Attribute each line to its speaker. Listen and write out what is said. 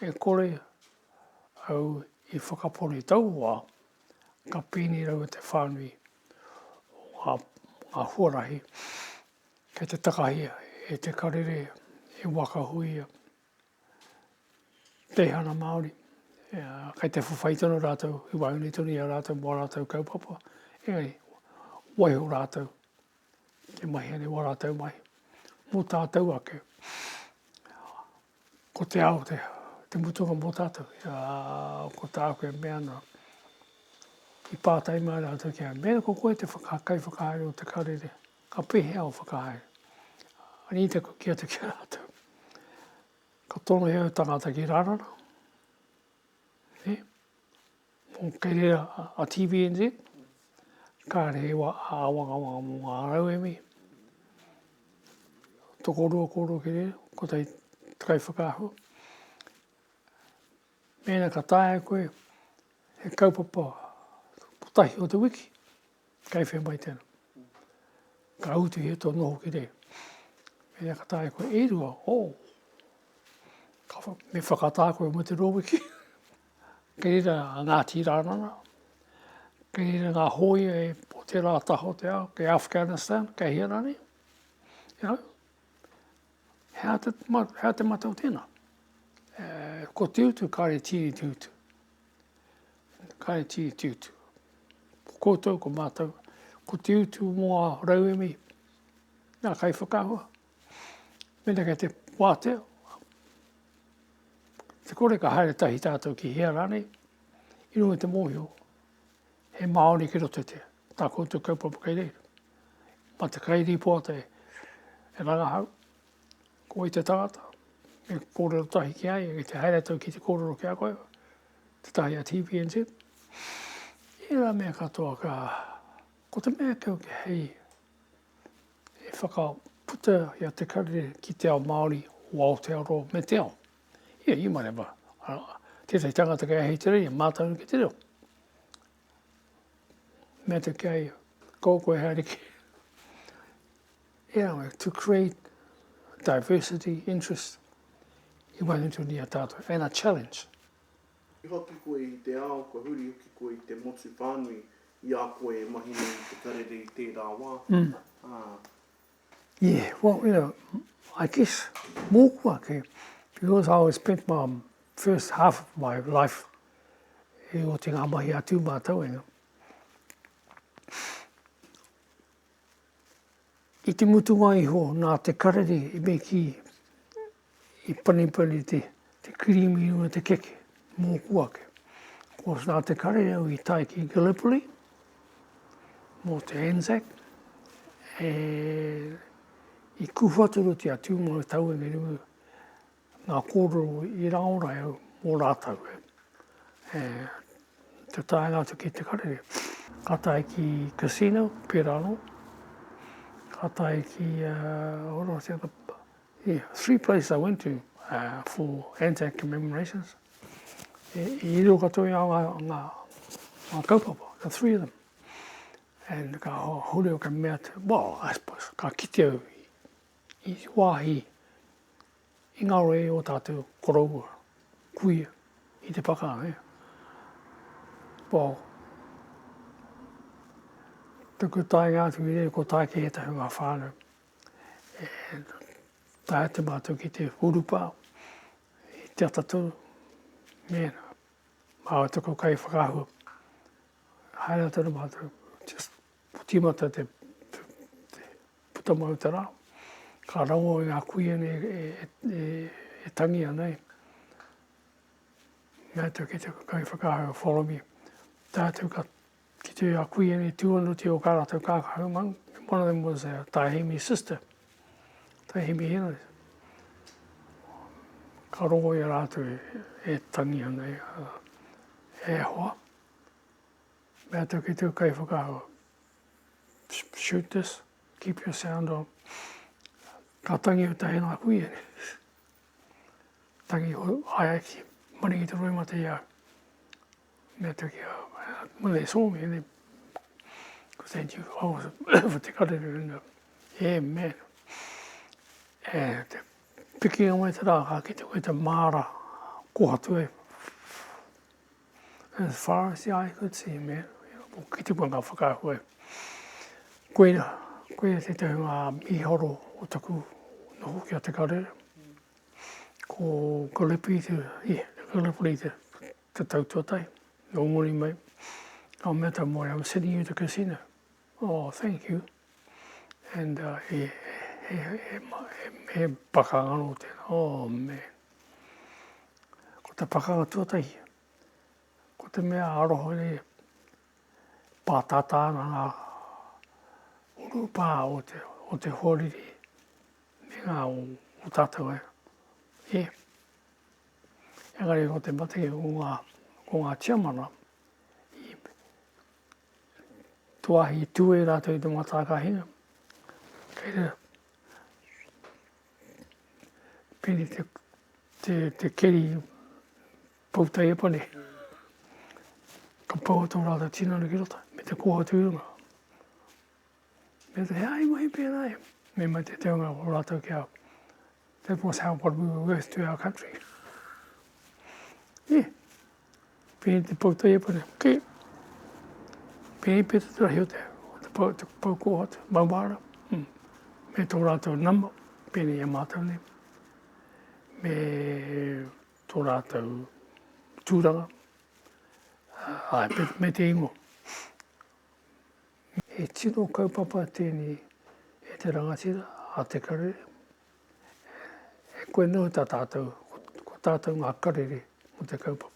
Speaker 1: E kore au i whakapori taua ka pēnei raua te whānui o ngā, ngā huarahi kei te takahi e Te Karere, e Waka Huia, Teihana Māori, kei te whawhai tonu rātou, i waenganui tonu i a rātou mō ā rātou kaupapa, engari waiho rātou He mahi a reo a rātou mahi. Mō tātou ake, ko te ao te mutunga mō tātou. Ko tāku e mea ana, i pātai mai rātou ki a mea ko koe te whaka, kai whakahaere o te karere, ka pehea o whakahaere. Ani te kuki atu ki a rātou. Ka tono he au tangata ki rārana. E? Kei reira a TVNZ, kāre he wā āwangawanga mō ngā rauemi, tokorua kōrua ki reira, kotahi te kaiwhakaahua. Mēnā ka taea koe he kaupapa kotahi o te wiki, kei whea mai tēnā. Ka utu he tō noho ki reira. Mēnā ka taea koe e rua, o, oh, me whakatā koe mo te rōwiki. Kei reira a Ngāti Rānana, kei reira ngā hōia e po te rā taha o te ao, kei Afghanistan, kei hea rānei. You know, hea te, hea te matau tēnā? E, ko te utu, kāre tīri te utu. Kāre tīri te utu. Ko koutou, ko mātou, ko te utu mō a rauemi, nā kai whakahua. Mena kei te wātea, te kore ka haere tahi tātou ki hea rānei, i runga te mōhio, he Māori ki roto te, tā koutou kaupapa kei reira. Ma te kai ripoa te e rangahau, ko i te tangata, e kōrero tahi ki ai, e te haere tau ki te kōrero ki a koe, te tahi a TPNZ. I rā mea katoa ka, ko te mea kau ki hei, E whakaputa i a Te Karere ki te ao Māori o Aotearoa me te ao. Ia, you might have a, a, tētahi tangata kei Ahitereiria, e mātau ki te reo. Mea te kei, kō koe haere ki. Yeah, to create diversity, interest, i wānutuni a tātou, and a challenge. Huri hoki
Speaker 2: koe i te ao, kua huri hoki koe i te motu whānui i a koe e mahi nei i te
Speaker 1: karere i tērā wā, ā. Yeah, well, you know, I guess mōku ake, because I always spent my first half of my life i oti ngā mahi a tūmātau, you know. I te mutunga iho, nā te karere i me kī, I panipani te kirīmi me te keke mōku ake. Ko tā te kare au i tae ki Gallipoli mō te Anzac, e, i kūwhaturutia atu mō te tau engerime ngā kōrero i raora au mō rātau. E, e, te taenga atu ki te kare, ka tae ki Casino, pērā anō, ka tae ki uh, He three places I went to uh, for Anzac commemorations. E, i riro katoa i a ngā, ngā, ngā kaupapa, the three of them. And ka hore o ka mea te, well, I suppose, ka kite au i, i wāhi i ngā roe o tātou koroua, kuia, i te whakaaro, eh? Well, tuku tainga atu i rei ko tāke he tahi ngā whānau. e tae atu mātou ki te urupa i te atatū, mēnā māua te kai whakaahua, haere atu ana mātou, just tīmata te, te, te puta mau te rā, ka rango i ngā kuia nei e, e, e, e tangi ana e. Mea tau ki te kai whakaahua, follow me. Tā tau ka Ki te a kui ene tuonuti o ka ratou kakahu maunga. One of them was uh, Taihimi's sister, Taihimi Henry. Ka rongo i a rātou e, e tangi ana e, e hoa. Mea tau ki tau kai whakahua. Shoot this, keep your sound on. Ka tangi o tahi ngā kui ene. Tangi ho, hai aki, maringi te roi mate i au. Mea atu ki a, when they saw me, they said, you, I was for te karere in the air, man. E te piki o mai te rā, ka kite koe te māra kohatu e. As far as the eye could see, man. Ko kite koe ngā whakaahu e. Koeira, koeira te tehu ngā miharo o taku noho ki a te karere. Ko Gallipoli te, yeah, Gallipoli te te tau tuatahi, i Ongori mai, ka mea tau mōre, I'm sending you to casino. Oh, thank you. And uh, he, he, he, he, he, he pakanga no te, oh man. Ko te pakanga tuatahi, ko te mea aroho ni pātātā na ngā urupā o te, o te hōriri, me ngā o, o tātou e. Yeah. Engari ko te mate o ngā, ko ngā tiamana, i tuahi, i tū e rātou i te mātākahinga. Kei rā, pēne te, te, te keri poutai e pane. Ka pau atu rātou tinana ki roto, me te kōhatu i runga. Pea te hea i mahi pērā e. Me mai te teonga o rātou ki a that was how what we were worth to our country. Yeah. Pēi te pau tei e pare. Okay. Pēi pē te terahi o te, o te pau, te pau kō atu, mauāra. Mm. Me tō rātou nama, pēne i a mātou nei. Me tō rātou tūranga. Uh, ai, me te ingo. He tino kaupapa tēnei e te rangatira a te karere. E koe noa ta tātou, ko tātou ngā karere mō te kaupapa.